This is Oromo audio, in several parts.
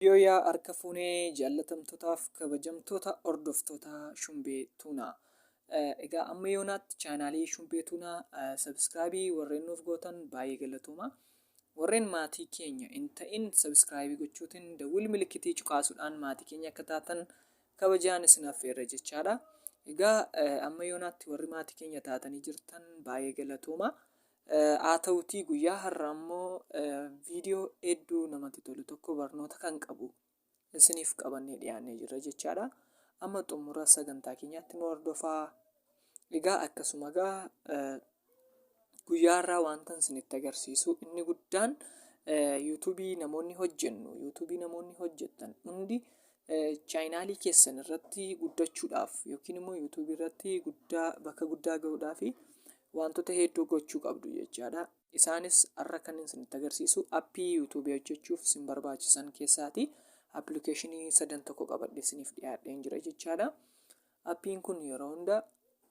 Yooyaa harka fuunee jaallatamtootaaf kabajamtoota hordoftoota Shumbee Tuunaa. Egaa amma yoonaatti chaanaalii Shumbee Tuunaa sabiskiraabii warreen nuuf gootan baay'ee galatooma. Warreen maatii keenya hin ta'in sabiskiraabii gochuutiin dawwil milikitii cuqaasuudhaan maatii keenya akka taatan kabajaan isin affeerra jechaadha. Egaa amma yoonaatti warri maatii keenya taatanii jirtan baay'ee galatooma. Haa ta'utii guyyaa har'a ammoo viidiyoo hedduu namatti tolu tokko barnoota kan qabu isiniif qabannee dhiyaannee jirra jechaadha. Amma xumura sagantaa keenyaatti nu hordofaa. Egaa akkasuma egaa guyyaa har'aa wantan isinitti agarsiisu inni guddaan yuutuubii namoonni hojjennu yuutuubii namoonni hojjettan hundi chaayinaalii keessan irratti guddachuudhaaf yookiin immoo yuutuubii irratti guddaa bakka guddaa ga'uudhaaf Waantota hedduu gochuu qabdu jechaadha. Isaanis har'a kanin isinitti agarsiisu appii yuutuubii hojjechuuf isin barbaachisan keessaati. Appilikeeshinii sadan tokko qabadhee isiniif dhiyaadheen jira jechaadha. Appiin kun yeroo hunda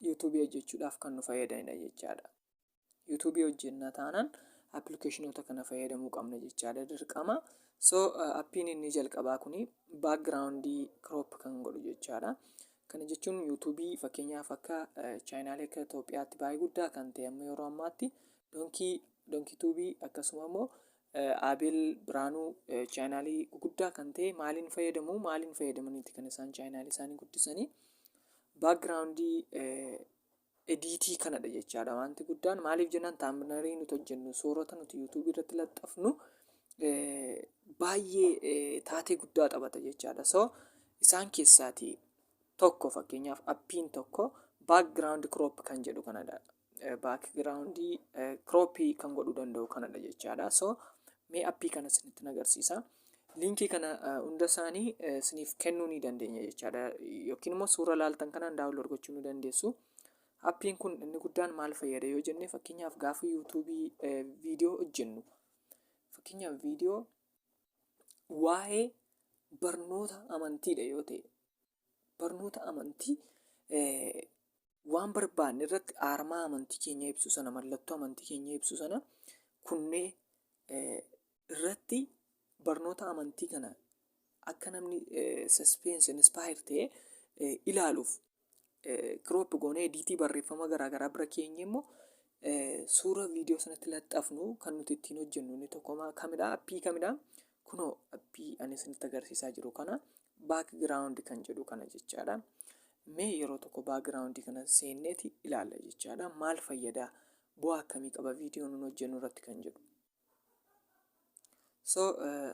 yuutuubii hojjechuudhaaf kan nu fayyadanidha jechaadha. Yuutuubii hojjenna taanaan appilikeeshinoota kana fayyadamuu qabna jechaadha dirqama. So appiin inni jalqabaa kuni baakgiraawundii kiroop kan godhu jechaadha. Kana jechuun YouTube fakkeenyaaf akka chaayinaalee akka Itoophiyaatti baay'ee guddaa kan ta'e amma yeroo ammaatti donkii donkii tuubii akkasuma immoo Abeel Biraanuu chaayinaalii guguddaa kan ta'e maaliin fayyadamu maaliin fayyadamaniiti kan isaan chaayinaalii isaanii guddisanii baakgiraawundii Ediitii kanadha jechaadha wanti guddaan maaliif jennaan taamnarii nuti hojjennu soorata nuti yuutuubii irratti laxxafnu baay'ee taatee guddaa taphata jechaadha so isaan keessaatii tokko fakkeenyaaf appiin tokko background crop kan jedhu kanadha background croppii kan godhuu danda'u kanadha jechaadha so Mee appii kana isinitti agarsiisa. Liinkii kana hunda isaanii isiniif kennuu ni dandeenya jechaadha. Yookiin immoo suura laaltan kanaan daawunlood gochuu ni dandeessu. Appiin kun inni guddaan maal fayyada yoo jenne fakkeenyaaf gaafa yuutuubii viidiyoo hojjennu fakkeenyaaf viidiyoo waa'ee barnoota amantiidha yoo ta'e barnoota amantii waan barbaanne irratti aarmaa amantii keenya ibsu sana mallattoo amantii keenya ibsu sana kunnee irratti barnoota amantii kana akka namni saspeensi inspaayer ta'e ilaaluuf kiroop goonee ediitii barreeffama garaagaraa bira keenya immoo suura viidiyoo sanatti laxxafnu kan nuti ittiin hojjennu inni tokko kamidha appii kamidha Kunoo appii ani isinitti agarsiisaa jiru kana background kan jedhu kana jechaadha. Mee yeroo tokko background kana seenneeti ilaalla jechaadha. Maal fayyada? Bu'aa akkamii qaba viidiyoo nun hojjennu irratti kan jedhu. So eh,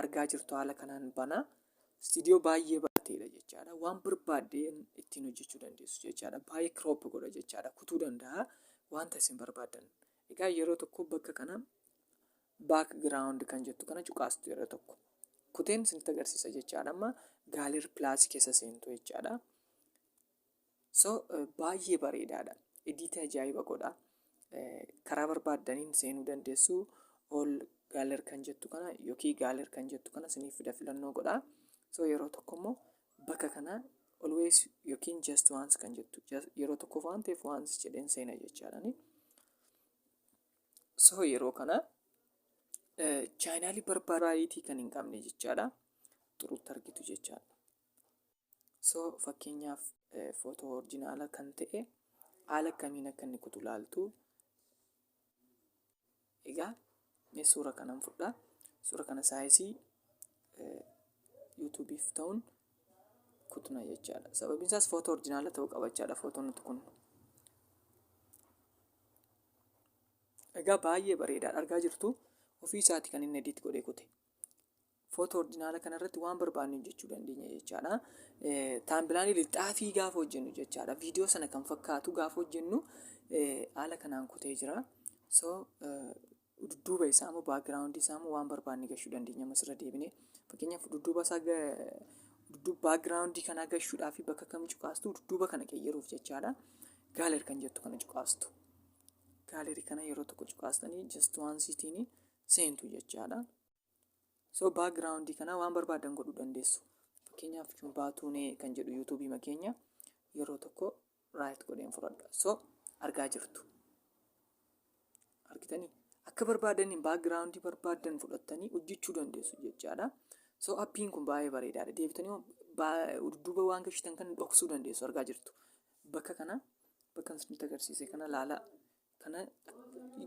argaa jirtu haala kanaan bana istiidiyoo baay'ee barateedha jechaadha. Waan barbaadde ittiin hojjechuu dandeessu jechaadha. Baay'ee crop godha jechaadha. Kutuu danda'a wanta isin barbaaddan. Egaa yeroo tokko bakka kana Background kan jettu kana cuqaastu yeroo tokko. Kuteen isinitti agarsiisa jechaadha. Amma Gaaler Plus keessa seentu jechaadha. So baay'ee bareedaadha. Ediitii ajaa'iba godha. Karaa barbaaddaniin seenuu dandeessu. All Gaaler kan jettu kana yookiin Gaaler kan jettu kana isiniif fida filannoo godha. So yeroo tokko immoo bakka kana always yookiin just once kan jettu yeroo tokkoof waan ta'eef once jedheen seena jechaadha. So yeroo kana chaayinaalii barbaraayitii kan hin qabne jechaadha. Xuruutti argitu jechaadha. So fakkeenyaaf footoo orjinaala kan ta'e haala kamiin akka inni kutu laaltu. Egaa mee suura kanan fudhaa. Suura kana saayisii yuutuubiif ta'uun kutna jechaadha. Sababiin isaas footoo orjinaala ta'uu qabachaadha footoon nuti kun. Egaa baay'ee bareedaadha argaa jirtu ofii isaati kan inni edit godhee kute. Footoo ordinaala kanarratti waan barbaanne hojjechuu dandeenya jechaadha. Taambilaanii lixaafii gaafa hojjennu jechaadha. Viidiyoo sana kan fakkaatu gaafa hojjennu haala kanaan kutee jira. So dudduuba isaa immoo baakgiraawundi isaa immoo waan barbaanne gashuu dandeenya ammas irra deebinee. Fakkeenyaaf dudduuba isaa dudduuba baakgiraawundii kanaa gashuudhaaf bakka kam cuqaastu dudduuba kana qeyyaruuf jechaadha. Gaaler kan jettu kana cuqaastu. Gaalerii kana yeroo tokko cuqaastanii just waan siitiin seentu jechaadha. So backgroundii kana waan barbaadan godhuu dandeessu. Fakkeenyaaf baatuunee kan jedhu yuutuubii makeenya yeroo tokko raayit godheen fudhadha. So argaa jirtu. Argitanii? Akka barbaadaniin backgroundii barbaadan fudhattanii hojjechuu dandeessu jechaadha. So appiin kun baay'ee bareedaadha. Deebitanii waan- baa- dudduuba waan gashitan kan dhoksuu dandeessu argaa jirtu. Bakka kana bakka isinitti agarsiise kana laalaa kana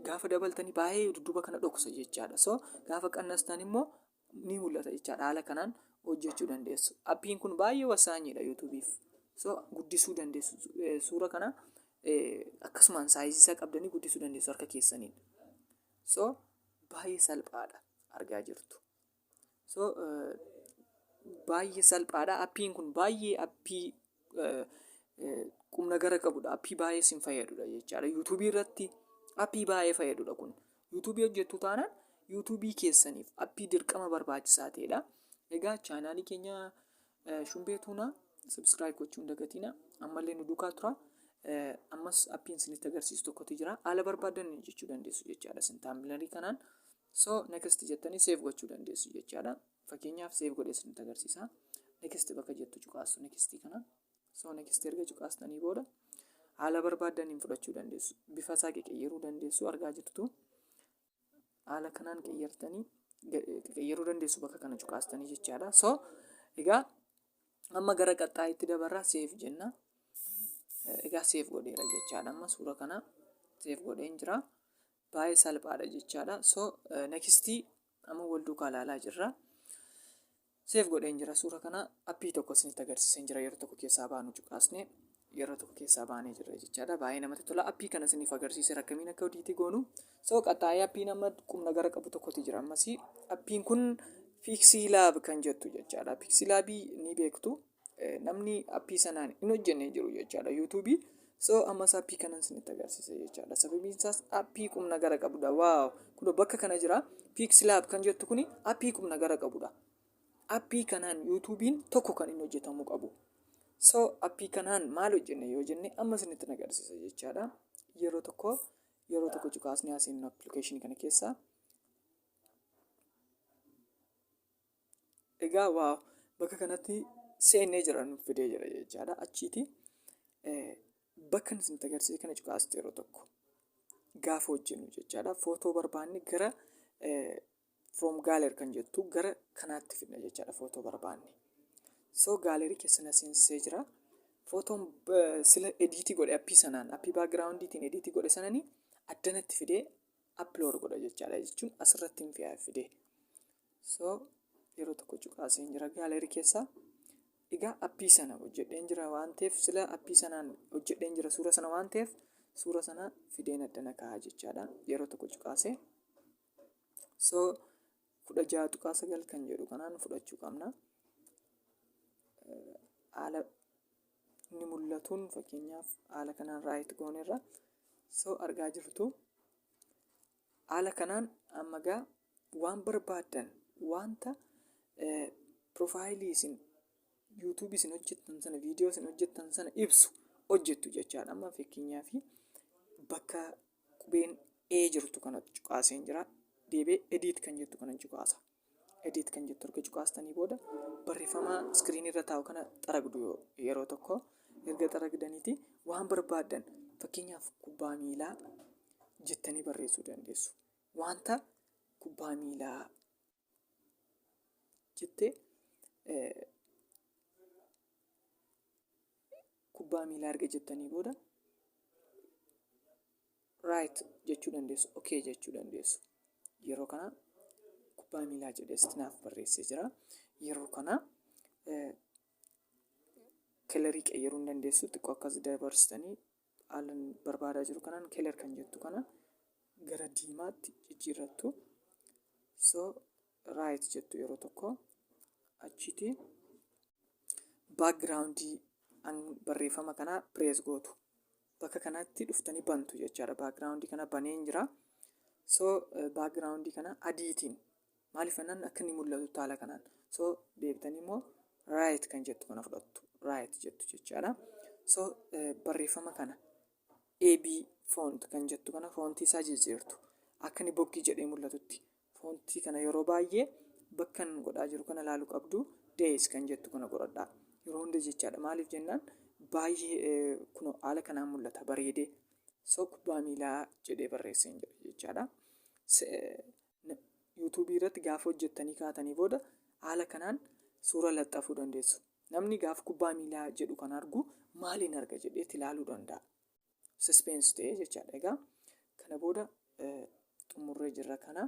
gaafa dabaltanii baay'ee dudduuba kana dhokusa jechaadha. So gaafa qannastan immoo ni mul'ata jechaadha. Haala kanaan hojjechuu dandeessu. Appiin kun baay'ee wasaanyiidha yuutuubiif. So guddisuu dandeessu eh, suura kana eh, akkasumaan saayizii isaa qabdanii guddisuu dandeessu harka keessaniin. So baay'ee salphaadha argaa jirtu. So baay'ee salphaadha. Appiin kun baay'ee appii qumna gara qabudha. Appii baay'ee sin fayyadudha jechaadha. Yuutuubii irratti appii baay'ee fayyadudha kun. Yuutuubii hojjettu taanaan yuutuubii keessaniif appii dirqama barbaachisaa ta'edha. Egaa chaanaalii keenya shumbee tuunaa subscribe gochuun dagatina. Ammallee nu duukaa tura. Ammas appiin isinitti agarsiisu tokkotu jira. Haala barbaadan jechuu dandeessu jechaadha. Isin taambilarii kanaan So next jettanii save gochuu dandeessu jechaadha. Fakkeenyaaf save godhee isinitti agarsiisa. Next bakka jettu cuqaastu next kana. So next erga cuqaastanii booda haala barbaaddaniin fudhachuu dandeessu. Bifa isaa qeqeyyeruu dandeessu argaa jirtu. Haala kanaan qeyyertanii qeyyeruu dandeessu bakka kana cuqaastanii jechaadha. So egaa amma gara qaxxaayitti dabarraa seef jenna. Egaa seef godheera jechaadha. Amma suura kana seef godheen jira. baay'ee salphaadha jechaadha so next amma wal duukaa ilaalaa jirra seef godheen jira suura kana appii tokko isinitti agarsiiseen jira yeroo tokko keessaa baanu cuqaasne yeroo tokko keessaa baanee jirra jechaadha baay'ee namatti tola appii kana isiniif agarsiiseera akkamiin akka hojii goonu so qaxaa'ee appiin amma qubna gara qabu tokkotti jira ammasii appiin kun fiiksii laab kan jettu jechaadha fiiksii laabii ni beektu namni appii sanaan hin hojjenne jiru jechaadha yuutuubii so ammas appii kanan isinitti agarsiisa jechaadha sababiin isaas appii qubna gara qabudha waaw kuno bakka kana jira piiksilaab kan jettu kuni appii qubna gara qabudha appii kanaan yuutuubiin tokko kan hin hojjetamuu qabu so appii kanaan maal hojjenne yoo jenne amma isinitti agarsiisa jechaadha yeroo tokko yeroo tokko cukaasni asiin appilikeeshinii kana keessaa egaa waa bakka kanatti seennee jira nuuf fidee jira jechaadha achiiti eh, bakka isin agarsiise kana cuqaasti yeroo tokko gaafa hojjennu jechaadha footoo barbaanne gara eh, from galer kan jettu gara kanaatti fidna jechaadha footoo barbaanne soo gaalerii keessa na seensisee jira footoon eh, sila ediitii godhe appii sanaan appii baagiraawundiitiin ediitii godhe sananii addanatti fidee appilood godha jechaadha jechuun asirratti hin fiyaa fidee so yeroo tokko cuqaaseen jira gaaleerii keessaa egaa appii sana hojjedheen jira waan ta'eef sila appii sanaan hojjedheen jira suura sana waan ta'eef suura sana fideen addana kaa'aa jechaadha yeroo tokko cuqaasee so kudha ja'a tuqaa sagal kan jedhu kanaan fudhachuu qabna haala inni mul'atuun fakkeenyaaf haala kanaan raayit goonerra so argaa jirtu Haala kanaan amma egaa waan barbaaddan wanta piroofaayilii isin yuutuubii isin hojjettan sana viidiyoo isin hojjettan sana ibsu hojjettu jechaadha. Amma fakkeenyaa fi bakka qubeen ee jirtu kana cuqaaseen jira. Deebee ediit kan jettu kana cuqaasa. Edit kan jettu erga cuqaastanii booda barreeffama iskiriinii irra taa'u kana xaragdu yeroo tokko erga xaragdaniiti waan barbaaddan fakkeenyaaf kubbaa miilaa jettanii barreessuu dandeessu. Wanta kubbaa miilaa jettee kubbaa miilaa erga jettanii booda right jechuu dandeessu okay jechuu dandeessu yeroo kana kubbaa miilaa jedhee sitti naaf barreessee jira yeroo kana eh, kelarii qayyaruu hin dandeessu xiqqoo akkas dabarsitanii haalan barbaadaa jiru kanaan keler kan jettu kana gara diimaatti jijjiirrattu so right jettu yeroo tokko achiiti backgroundii an barreeffama kanaa pirees gootu bakka kanatti dhuftanii bantu jechaadha background kana baneen jira so background kana adiitiin maaliif jennaan akka inni mul'atu taala kanaan so deebitanii immoo right kan jettu kana fudhattu right jettu jechaadha so barreeffama kana ab font kan jettu kana foontii isaa jijjiirtu akka inni boggii jedhee mul'atutti Foontii kana yeroo baay'ee bakkan godhaa jiru kana ilaalu qabdu days kan jettu kana godhadhaa yeroo hunda jechaadha maaliif jennaan baay'ee kuno haala kanaan mul'ata bareedee so kubbaa miilaa jedhee barreesseen jedha jechaadha yuutuubii irratti gaafa hojjettanii kaatanii booda haala kanaan suura laxxafuu dandeessu namni gaafa kubbaa miilaa jedhu kan argu maaliin arga jedheetti ilaaluu danda'a Suspense ta'ee jechaadha. Egaa kana booda xumurree jirra kana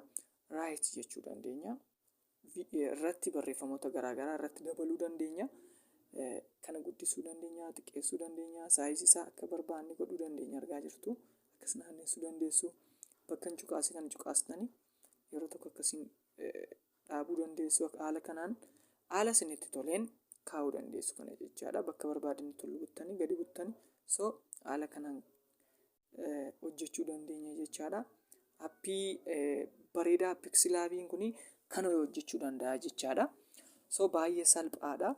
right jechuu dandeenya. Irratti barreeffamoota garaagaraa irratti dabaluu dandeenya. Kana guddisuu dandeenya, xiqqeessuu dandeenya, saayizii isaa akka barbaanne godhuu dandeenya argaa jirtu. Akkas naanneessuu dandeessu. Bakka hin cuqaase kan cuqaastanii yeroo tokko akkasiin dhaabuu dandeessu haala kanaan haala isinitti toleen kaa'uu dandeessu kana jechaadha bakka barbaadanitti ol buttanii gadi buttanii so haala kanaan eh, hojjechuu dandeenya jechaadha appii eh, bareedaa piksilaabiin kun kana hojjechuu danda'a jechaadha so baay'ee salphaadha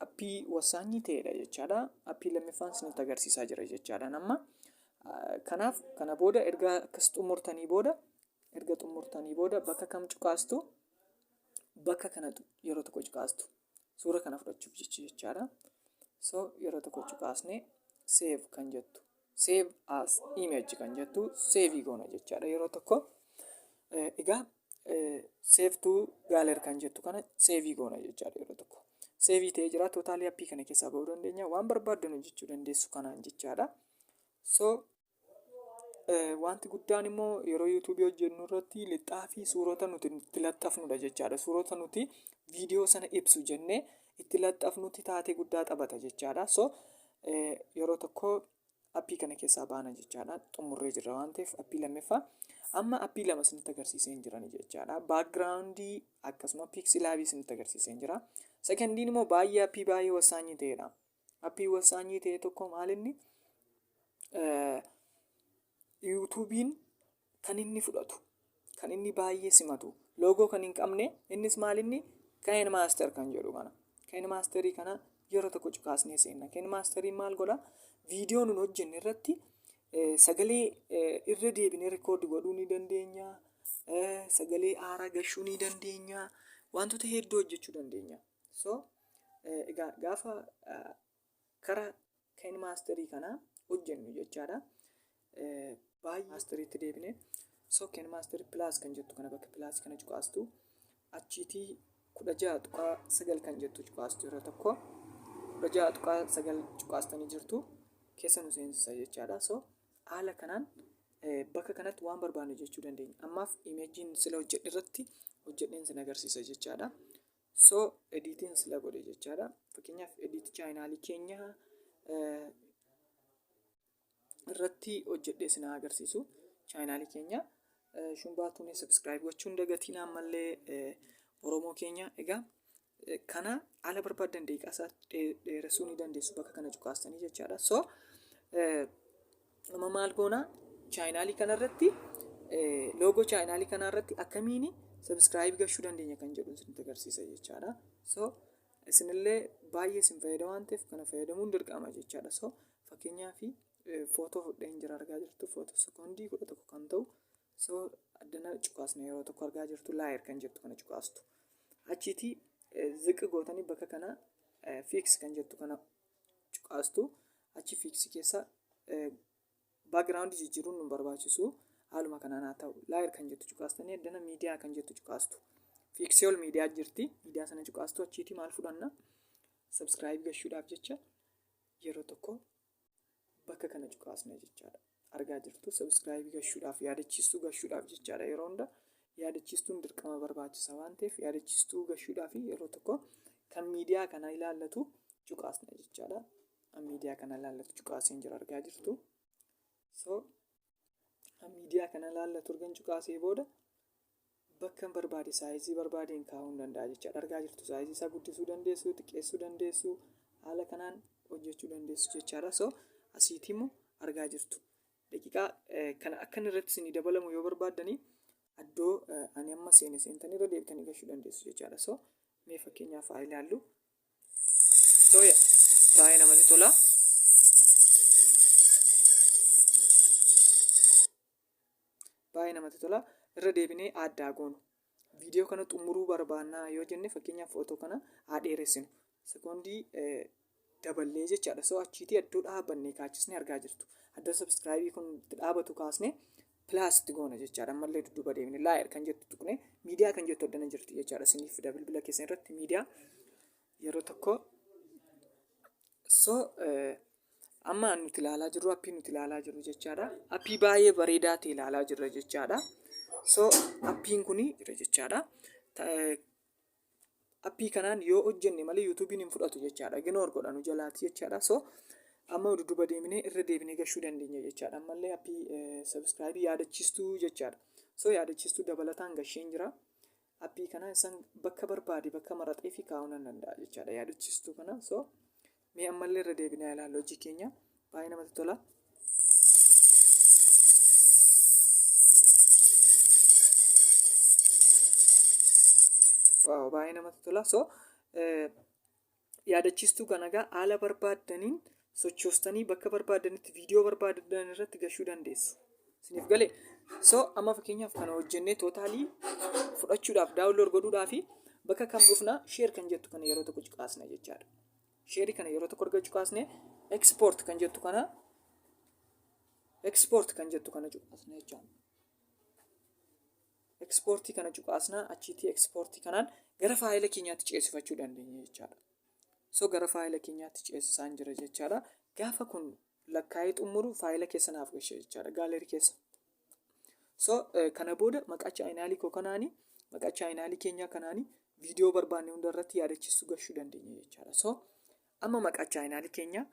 appii wasaanyii ta'edha jechaadha appii lammiffaan isinitti agarsiisaa jira jechaadha amma Ah, kanaaf kana booda erga akkas xumurtanii booda Erga xumurtanii booda bakka kam cuqaastu? Bakka kana yeroo tokko cuqaastu. Suura kana fudhachuuf jecha jechaadha. So yeroo tokko cuqaasne save kan jettu. Save as image kan jettu save goona jechaadha yeroo tokko. Egaa save to gallery kan jettu kana save goona jechaadha yeroo tokko. Save ta'ee jira tootaalii appii kana keessaa bahuu dandeenya. Waan barbaaddan hojjechuu dandeessu kanaan jechaadha. So Wanti guddaan immoo yeroo yuutuubii hojjennu irratti lixaa fi suurota nuti itti laxxafnudha jechaadha. Suurota nuti viidiyoo sana ibsu jennee itti laxxafnutti taatee guddaa taphata jechaadha. So yeroo tokko appii kana keessaa baana jechaadha. Xumurree jirra waan ta'eef appii lammaffaa. Amma appii lama isinitti agarsiisee hin jiran jechaadha. Baakgiraawundii akkasuma piiksilaabii isinitti agarsiisee hin jira. Sekondiin immoo baay'ee appii baay'ee wasaanyii ta'edha. Appii wasaanyii ta'e tokko maalinni yuutuubiin kan inni fudhatu kan inni baay'ee simatu loogoo kan hin qabne innis maalinni ka'een maaster kan jedhu kana ka'een maasterii kana yeroo tokko cukaasnee seenna ka'een maasterii maal godha viidiyoo nun hojjenne irratti sagalee irra deebinee rikoordi godhuu ni dandeenya sagalee aaraa gashuu ni dandeenya wantoota hedduu hojjechuu dandeenya so egaa gaafa kara kain maasterii kana hojjennu jechaadha baay'ee maasteriitti deebine so kain maasterii pilaas kan jettu kana bakka pilaas kana cuqaastu achiitii kudha ja'a tuqaa sagal kan jettu cuqaastu yeroo tokko kudha ja'a tuqaa sagal cuqaastanii jirtu keessa nu seensisa jechaadha so haala kanaan bakka kanatti waan barbaannu jechuu dandeenya ammaaf imeejiin sila hojjedhe irratti hojjedheen sin agarsiisa jechaadha So ediitiin sila godhe jechaadha. Fakkeenyaaf ediit chaayinaalii keenya irratti hojjedhee isin haa agarsiisu. Chaayinaalii keenya shumbaa tuunee sabiskiraayib gochuun dagatiin ammallee Oromoo keenya egaa kana ala barbaadan deeqaasaa dheeressuu ni dandeessu bakka kana cuqaastanii jechaadha. So Amma maal goonaa chaayinaalii kanarratti loogoo chaayinaalii kanarratti akkamiin sabiskiraayib gashuu dandeenya kan jedhu isinitti agarsiisa jechaadha. So isinillee baay'ee isin fayyada waan ta'eef kana fayyadamuun dirqama jechaadha. So fakkeenyaaf footoo fudheen jira argaa jirtu footoo sekoondii kudha tokko kan ta'u so addana cuqaasna yeroo tokko argaa jirtu laayir kan jettu kana cuqaastu. Achiitii ziqi gootanii bakka kana fiiks kan jettu kana cuqaastu achi fiiksi keessa background jijjiiruun nu barbaachisu haaluma kanaan haa ta'u laayir kan jettu cuqaastanii addana miidiyaa kan jettu cuqaastu fiiksii ol miidiyaa jirti miidiyaa sana cuqaastu achiitii maal fudhanna sabskiraayib gashuudhaaf jecha yeroo tokko bakka kana cuqaasna jechaadha. Argaa jirtu subscribe gashuudhaaf yaadachiistuu gashuudhaaf jechaadha yeroo hunda yaadachiistuun dirqama barbaachisa waan ta'eef yaadachiistuu gashuudhaaf yeroo tokko kan miidiyaa kana ilaallatu cuqaasna jechaadha. Miidiyaa kana ilaallatu cuqaaseen jira argaa jirtu. So miidiyaa kana ilaalla turgan cuqaasee booda bakka hin barbaade saayizii barbaadeen kaa'uu hin danda'a jechaadha argaa jirtu saayizii isaa guddisuu dandeessu xiqqeessuu dandeessu haala kanaan hojjechuu dandeessu jechaadha so asiitii immoo argaa jirtu daqiiqaa kana akka inni irratti isinii dabalamu yoo barbaaddanii addoo ani amma seene seentanii irra deebitanii gashuu dandeessu jechaadha so mee fakkeenyaaf haa ilaallu Ittoo baay'ee namatti tola. Baay'ee namatti tola. Irra deebinee addaa goonu. Viidiyoo kana xumuruu barbaannaa yoo jenne fakkeenyaaf footoo kana haa dheeressinu. Sekoondii daballee jechaadha. Soo achiitii iddoo dhaabannee kaachisnee argaa jirtu. Iddoo sabiskiraayibii kun itti dhaabatu kaasnee Plus itti goona jechaadha. Ammallee dudduuba deemne laayir kan jettu tuqne miidiyaa kan jettu addana jirti jechaadha. Isiniif fida bilbila keessan irratti miidiyaa yeroo tokko so amma nuti ilaalaa jirru appii nuti ilaalaa jirru jechaadha. Appii baay'ee bareedaa ta'e ilaalaa jirra jechaadha. So appiin kun jira jechaadha. appii kanaan yoo hojjenne malee yuutuubiin hin fudhatu jechaadha ignoor godha nu jalaati jechaadha so amma dudduba deemnee irra deebinee gashuu dandeenya jechaadha ammallee appii sabiskiraayibii yaadachiistuu jechaadha so yaadachiistuu dabalataan gasheen jira appii kana isan bakka barbaade bakka maraxee fi kaa'uu nan danda'a jechaadha yaadachiistuu kana so Mee ammallee irra deebinee haa ilaallu hojii keenya. Baay'ee namatti tola. Waaw baay'ee namatti tola. So eh, yaadachiistuu kana egaa haala barbaaddaniin sochoostanii bakka barbaaddanitti viidiyoo barbaadan irratti gashuu dandeessu. Isiniif galee? So amma fakkeenyaaf kana hojjennee tootaalii fudhachuudhaaf daawunlood godhuudhaaf bakka kam dhufna sheer kan jettu kana yeroo tokko cuqaasna jechaadha. Sheerii kana yeroo tokko argachuu kaasnee export kan jettu kana export kan jettu kana cuqaasna jechuudha. Exportii kana cuqaasna achiitii exportii kanaan gara faayila keenyaatti ceesifachuu dandeenya jechaadha. So gara faayila keenyaatti ceesisaan jira jechaadha. Gaafa kun lakkaa'ee xumuru faayila keessa naaf gashe jechaadha. Gaalerii keessa so eh, kana booda maqaa chaayinaalii koo kanaani maqaa chaayinaalii keenyaa kanaani viidiyoo barbaanne hunda irratti yaadachiisu gashuu dandeenya jechaadha so amma maqaa chaayinaalii keenyaa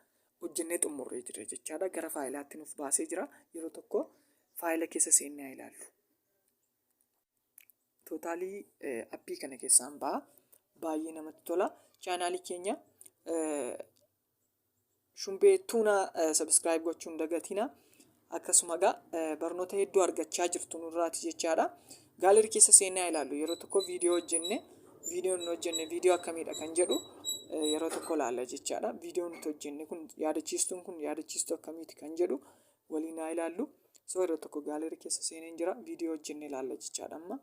hojjennee xumurree jira jechaadha gara faayilaatti nuuf baasee jira yeroo tokko faayila keessa seennee haa ilaallu Tootaalii appii kana keessaan ba'a. Baay'ee namatti tola. Chaanaalii keenya Shumbee Tuunaa sabiskiraayib gochuun dagatina. Akkasuma egaa barnoota hedduu argachaa jirtu nurraati jechaadha. Gaalarii keessa seenaa ilaallu yeroo tokko viidiyoo hojjenne viidiyoo hin hojjenne viidiyoo akkamiidha kan jedhu yeroo tokko ilaalla jechaadha. Viidiyoo nuti hojjenne kun yaadachiistuun kun yaadachiistuu akkamiiti kan jedhu waliin haa ilaallu soo irra tokko gaalerii keessa seeneen jira viidiyoo hojjenne ilaalla jechaadha amma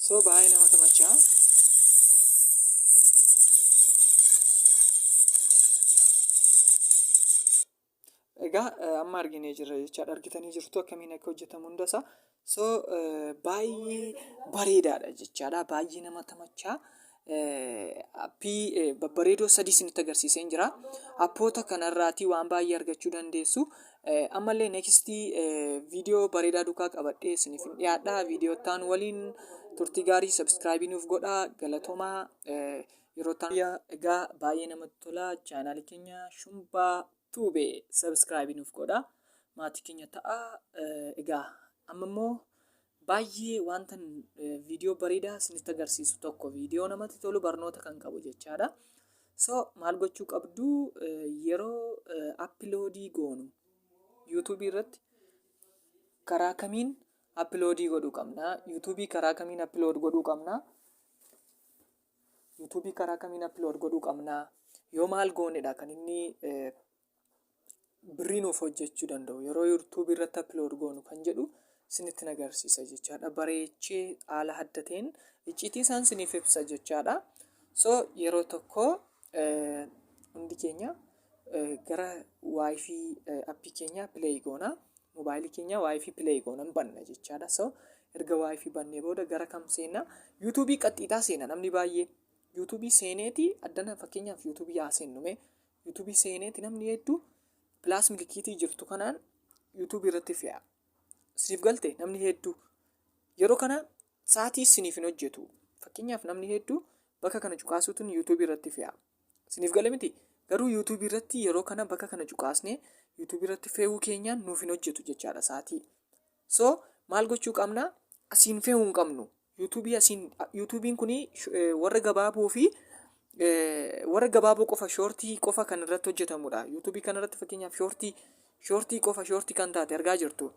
soo baay'ee nama tamachaa Egaa amma arginee jirra jechaadha. Argitanii jirtu akkamiin akka hojjetamu hundasaa. So baay'ee bareedaadha jechaadha. Baay'ee nama tamachaa. Appii babbareedoo sadii isinitti agarsiiseen jira. Appoota kanarraatii waan baay'ee argachuu dandeessu. Ammallee neekistii viidiyoo bareedaa duukaa qabadhee isiniif hin dhiyaadha. Viidiyoo ta'an waliin turtii gaarii sabiskiraayibii nuuf godhaa galatomaa. Yeroo taaya egaa baay'ee namatti tola chaanaali keenya shumbaa tuube subscribe nuuf godha maatii keenya ta'a egaa amma immoo baay'ee wanta viidiyoo bareedaa isinitti agarsiisu tokko viidiyoo namatti tolu barnoota kan qabu jechaadha so maal gochuu qabdu yeroo appiloodii goonu yuutuubii irratti karaa kamiin appiloodii godhuu qabna yuutuubii karaa kamiin appilood godhuu qabna YouTube karaa kamiin upload godhuu qabna yoo maal goonedha kan inni birrii nuuf hojjechuu danda'u yeroo YouTube irratti upload goonu kan jedhu isinitti nagarsiisa jechaadha bareechee haala adda ta'een icciitii isaan isiniif ibsa jechaadha so yeroo tokko hundi keenya gara waayifii appii keenya pileey goona moobaayilii keenya waayifii pileey goona hin banna jechaadha so erga waayifii bannee booda gara kam seenna yuutuubii qaxxiitaa seena namni baay'ee yuutuubii seeneeti addana fakkeenyaaf yuutuubii haa seennume yuutuubii seeneeti namni hedduu pilaas milikiitii jirtu kanaan yuutuubii irratti fe'a siif galte namni hedduu yeroo kana Sa'atii siniif hin hojjetu. Fakkeenyaaf namni hedduu bakka kana cuqaasuutuun YouTube irratti fe'a. Siniif gale miti. Garuu YouTube irratti yeroo kana bakka kana cuqaasnee YouTube irratti fe'uu keenyaan nuuf hin hojjetu jechaadha sa'atii. So maal gochuu qabna? Asiin fe'uu hin qabnu. YouTube asiin YouTube'n kun warra gabaaboo fi warra gabaaboo qofa shoortii qofa kan irratti hojjetamudha. YouTube kan irratti fakkeenyaaf shoortii shoortii qofa shoortii kan taate argaa jirtu.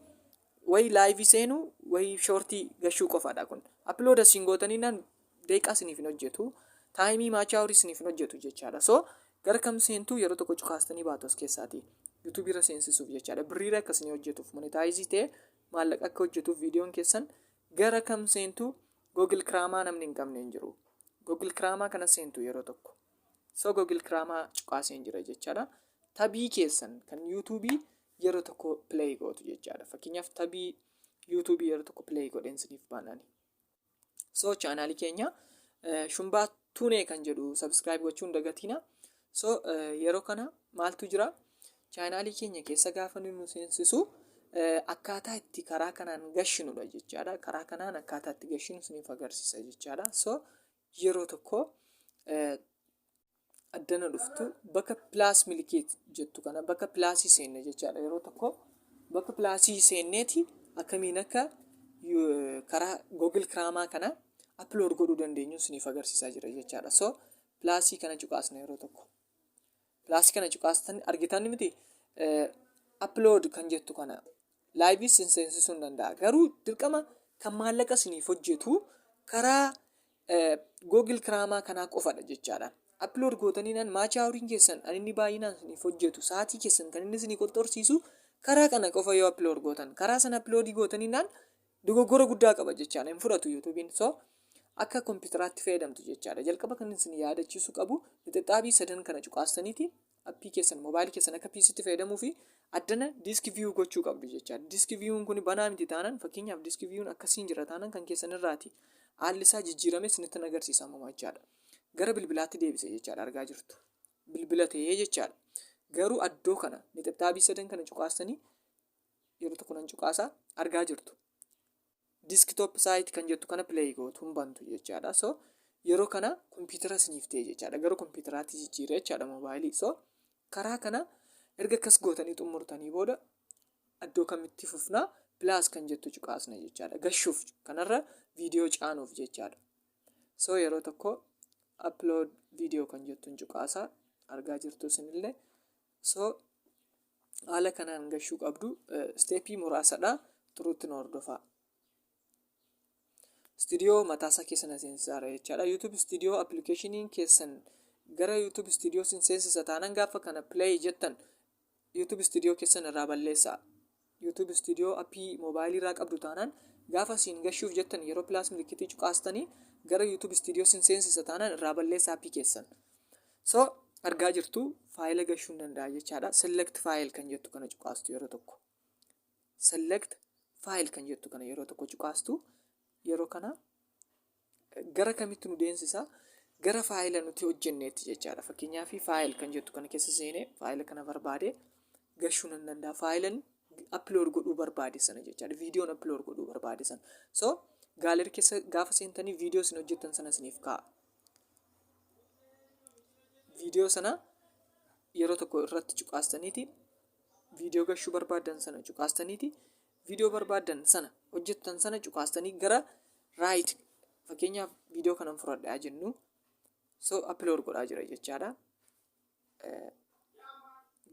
Wayi live seenu wayi shorti gashuu qofadha kun. Upload asin gootanii nan deeqaa siniif hin hojjetu. Taayimii maachaa horii siniif hin hojjetu jechaadha. So gara kam seentu yeroo tokko cukaastanii baatu as keessaati. YouTube irra seensisuuf jechaadha. Birriira akka isinii hojjetuuf monetaayizii ta'e maallaqa akka hojjetuuf viidiyoon keessan gara kam seentu Google Kiraamaa namni hin qabne hin jiru. Google Kiraamaa kana seentu yeroo tokko. So Google Kiraamaa cuqaaseen jira jechaadha. Tabii keessan kan YouTube yeroo tokko play gootu jechaadha fakkeenyaaf tabii yuutuubii yeroo tokko play godheen siniif baanani so chaanaalii keenya eh, shumbaa tuunee kan jedhu subscribe gochuun dagatiina so eh, yeroo kana maaltu jira chaanaalii keenya keessa gaafa nu seensisu eh, akkaataa itti karaa kanaan gashinudha jechaadha karaa kanaan akkaataa itti gashinu siniif agarsiisa jechaadha so yeroo tokko eh, addana dhuftu bakka pilaas milikeet jettu kana bakka pilaasii seenne jechaadha yeroo tokko bakka pilaasii seenneeti akkamiin akka karaa googil kiraamaa kana aplood godhuu dandeenyu isiniif agarsiisaa jira jechaadha so pilaasii kana cuqaasna yeroo tokko pilaasii kana cuqaastan argitan miti aplood kan jettu kana laayivii sin seensisuu hin danda'a garuu dirqama kan maallaqa siniif hojjetu karaa googil kiraamaa kanaa qofadha jechaadha aplood gootaniinaan maachii hawriin keessan kan inni baay'inaan siniif hojjetu sa'aatii keessan kan inni sinii qorxorsiisu karaa kana qofa yoo aplood gootan karaa sana aploodii gootaniinaan dogoggora guddaa qaba jechaadha hin fudhatu yuutuubiin so akka kompiitaraatti fayyadamtu jechaadha jalqaba kan isin yaadachiisu qabu lixixaabii sadan kana cuqaastaniiti appii keessan mobaayilii keessan akka PCtti fayyadamuu fi addana diiski viyuu gochuu qabdu jecha diiski viyuun kun banaa miti taanaan fakkeenyaaf diiski viyuun akkasiin jira taanaan kan keessan irraati haalli isaa jijjiirame isinitti agarsiisa ammoo jechaadha gara bilbilaatti deebise jechaadha argaa jirtu bilbila ta'ee jechaadha garuu addoo kana nixibxaabii sadan kana cuqaastanii yeroo tokko nan cuqaasaa argaa jirtu desktop site kan jettu kana play gootu hin bantu jechaadha so yeroo kana kompiitara isiniif ta'e jechaadha gara kompiitaraatti jijjiiree jechaadha moobaayilii so karaa kana erga akkas gootanii xumurtanii booda iddoo kamitti fufnaa pilaas kan jettu cuqaasna jechaadha gashuuf kanarra viidiyoo caanuuf jechaadha so yeroo tokko upload viidiyoo kan jettuun cuqaasaa argaa jirtu isinillee so haala kanaan gashuu qabdu steepii muraasadha turuutti nu hordofaa studio mataasaa keessa na seensisaara jechaadha youtube studio appilikeeshiniin keessan gara youtube studio sin seensisa taanan gaafa kana play jettan youtube studio keessan irraa balleessaa YouTube Studio appii mobile irraa qabdu taanaan gaafa siin gashuuf jettan yeroo plus milikitii cuqaastanii gara YouTube Studio sin seensisa taanaan irraa balleessa appii keessan. So argaa jirtu faayila gashuu hin danda'a jechaadha. Select file kan jettu kana cuqaastu yeroo tokko. Select file kan jettu kana yeroo tokko cuqaastu yeroo kana Gara kamitti nu deemsisa? Gara faayila nuti hojjenneetti jechaadha. Fakkeenyaaf faayil kan jettu kana keessa seenee faayila kana barbaade gashuu nan danda'a. Faayilan upload godhuu barbaade sana jechaadha. Viidiyoon upload godhuu barbaade sana. So gaalarii keessa gaafa seentanii viidiyoo isin hojjettan sana isiniif kaa'a. Viidiyoo sana yeroo tokko irratti cuqaastaniiti viidiyoo gashuu barbaaddan sana cuqaastaniiti viidiyoo barbaaddan sana hojjettan sana cuqaastanii gara raayit fakkeenyaaf viidiyoo kanan fudhadhaa jennu so upload godhaa jira jechaadha.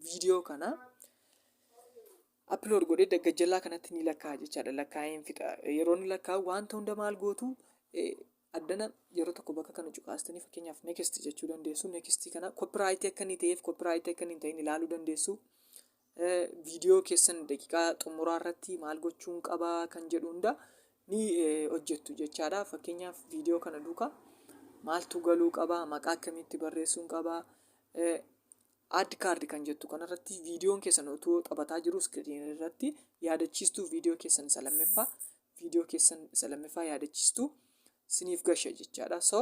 Viidiyoo kana upload godhee daggajjallaa kanatti ni lakkaa'aa jechaadha. Lakkaa'een fixa. Yeroo inni lakkaa'u wanta hunda maal gootu Addana yeroo tokko bakka kana cuqaastanii fakkeenyaaf next jechuu dandeessu. Next kana copyright akka inni ta'eef copyright akka inni hin ta'in ilaaluu dandeessu. Eh, Viidiyoo keessan daqiiqaa xumuraa irratti maal gochuun qaba kan jedhu hunda ni eh, hojjettu jechaadha. Fakkeenyaaf viidiyoo kana duuka maaltu galuu qaba, maqaa akkamitti barreessuun qaba, eh, add card kan jettu kanarratti viidiyoon keessan utuu taphataa jiru iskiriin irratti yaadachiistuu viidiyoo keessan isa lammaffaa viidiyoo keessan isa lammaffaa yaadachistu siniif gasha jechaadha. So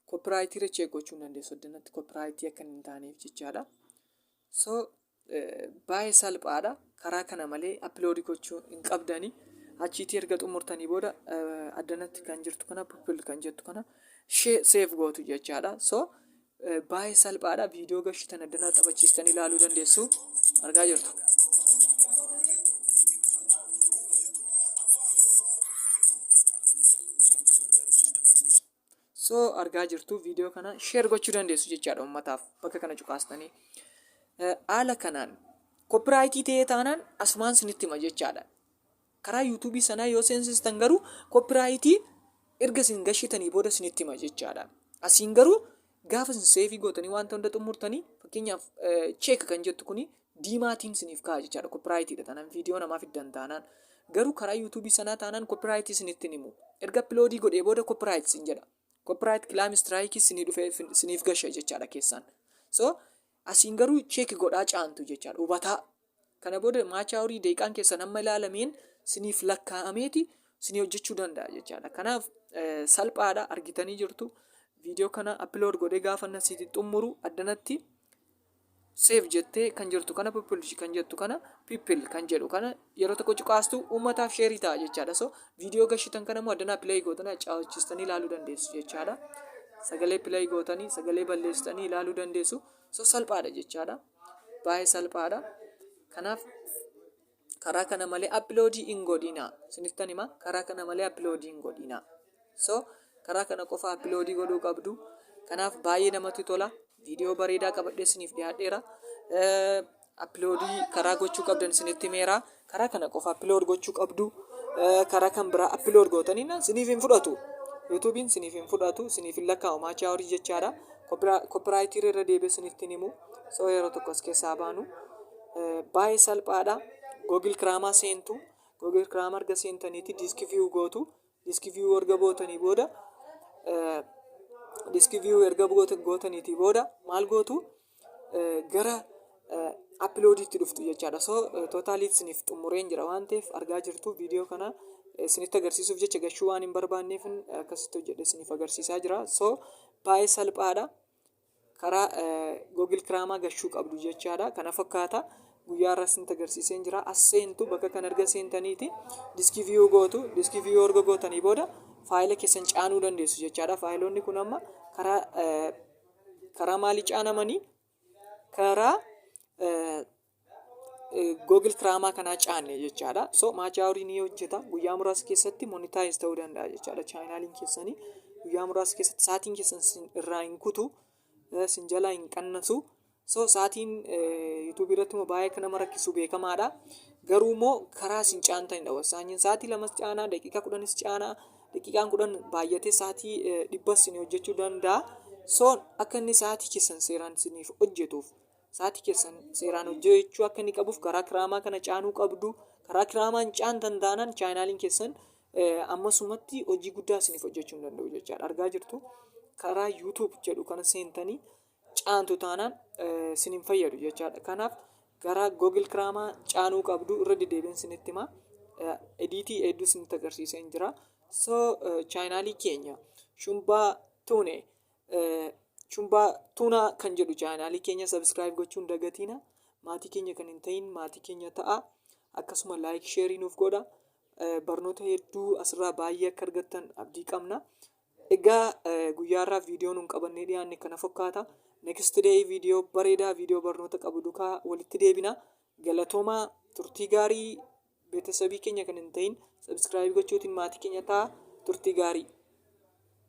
koopiraayitii irra cheek gochuu hin dandeessu addunyaatti koopiraayitii akka hin taaneef jechaadha. So baay'ee salphaadha. Karaa kana malee appiloodii gochuu hin qabdani. Achiitii erga xumurtanii booda addanatti kan jirtu kana pupil kan jettu kana seef gootu jechaadha. So Baay'ee salphaadha. Viidiyoo gashii tana danaa taphachiistanii ilaaluu dandeessu. Argaa jirtu. So argaa jirtu viidiyoo kana sheer gochuu dandeessu jechaadha uummataaf bakka kana cuqaastanii. Haala kanaan koppiraayitii ta'ee taanaan asumaan sinitti hima jechaadha. Karaa YouTube sanaa yoo seensistan garuu copyright erga isin gashitanii booda isinitti hima jechaadha. Asiin garuu gaafa isin seefii gootanii wanta hunda xumurtanii fakkeenyaaf check kan jettu kuni diimaatiin isiniif ka'a jechaadha. Copyright dha taanaan viidiyoo namaa fiddan taanaan. Garuu karaa YouTube sanaa taanaan copyright isinitti himu. Erga upload godhee booda copyright isin jedha. Copyright claim strike isinii dhufee isiniif gasha jechaadha keessaan. So Asiin garuu check godhaa caantu jechaadha. Hubataa. Kana booda maachaa horii daqiiqaan keessan amma ilaalameen siniif lakkaa'ameeti sinii hojjechuu danda'a jechaadha. Kanaaf salphaadha argitanii jirtu. Viidiyoo kana upload godhee gaafa nan siiti xumuru addanatti save jettee kan jirtu kana people kan jettu kana people kan jedhu kana yeroo tokko cuqaastu uummataaf sheerii ta'a jechaadha so viidiyoo gashitan kana immoo addanaa pilayi gootanii accaawachistanii ilaaluu dandeessu jechaadha sagalee pilayi gootanii sagalee balleessitanii ilaaluu dandeessu so salphaadha jechaadha baay'ee salphaadha kanaaf karaa kana malee appiloodii hin godhina sinittan hima karaa kana malee appiloodii hin godhina so karaa kana qofa appiloodii godhuu qabdu kanaaf baay'ee namatti tola viidiyoo bareedaa qabadhee isiniif dhiyaadheera Appiloodii karaa gochuu qabdan isinitti himeera. Karaa kana qofa appilood gochuu qabdu. Karaa kan biraa appilood gootaniin isiniif hin fudhatu. Yuutuubiin isiniif hin fudhatu, isiniif hin lakkaa'u maachaa horii jechaadha. Koppiraayitii irra deebi'ee isinitti hin himu. Soo yeroo tokko as keessaa baanu. Baay'ee salphaadha. Google Kiraamaa seentu. Google Kiraamaa erga seentaniiti diiski viyuu gootu. Diiski viyuu erga gootanii booda diiski viyuu erga gootaniitii booda maal gootu? gara appiloodiitti dhuftu jechaadha. So tootaalii isiniif xumureen jira waan ta'eef argaa jirtu viidiyoo kana isinitti agarsiisuuf jecha gashuu waan hin barbaanneef akkasitti hojjedhe isiniif agarsiisaa jira. So baay'ee salphaadha. Karaa Google Kiraamaa gashuu qabdu jechaadha. Kana fakkaata guyyaa irraa isinitti agarsiiseen jira. As seentu bakka kan erga seentaniiti diskii viyuu gootu diskii viyuu erga gootanii booda faayila keessan caanuu dandeessu jechaadha. Faayiloonni kun amma karaa Karaa maalii caanamanii? Karaa Google Kiraamaa kanaa caanne jechaadha. So maacha horii ni hojjeta. Guyyaa muraasa keessatti monitaayiz ta'uu danda'a jechaadha. Chaayinaaliin keessanii guyyaa muraasa keessatti sa'aatiin keessan sin irraa hin kutu, eh, sin jalaa hin qannasu. So sa'aatiin yuutuubii irratti immoo baay'ee akka nama rakkisu beekamaadha. Garuu immoo karaa sin caantanidha. Wasaanyiin sa'aatii lamas caanaa, daqiiqaa kudhanis caanaa. daqiiqaan kudhan baay'atee sa'aatii dhibba isin hojjechuu danda'a. So akka inni sa'aatii keessan seeraan isiniif hojjetuuf sa'aatii keessan seeraan hojjechuu akka inni qabuuf karaa kiraamaa kana caanuu qabdu. Karaa kiraamaan caantan taanaan chaayinaaliin keessan ammasumatti hojii guddaa isiniif hojjechuu hin danda'u jechaadha. Argaa jirtu karaa YouTube jedhu kana seentanii caantu taanaan sin hin fayyadu jechaadha. Kanaaf gara Google Kiraamaa caanuu qabdu irra deddeebiin sinitti himaa. Ediitii hedduu sinitti agarsiisee hin jira. So chaayinaalii keenya shumbaa tuune shumbaa tuunaa kan jedhu chaayinaalii keenya sabiskiraayib gochuun dagatiina. Maatii keenya kan hin ta'in maatii keenya ta'a. Akkasuma laayik sheerii nuuf godha. Barnoota hedduu asirraa baay'ee akka argattan abdii qabna. Egaa guyyaa irraa viidiyoo nun qabannee dhiyaanne kana fakkaata. Next day viidiyoo bareedaa viidiyoo barnoota qabu dukaa walitti deebina. Galatoomaa turtii gaarii betesabii keenya kan hin ta'in sabskiraayib gochuutiin maatii keenya ta'a turtii gaarii.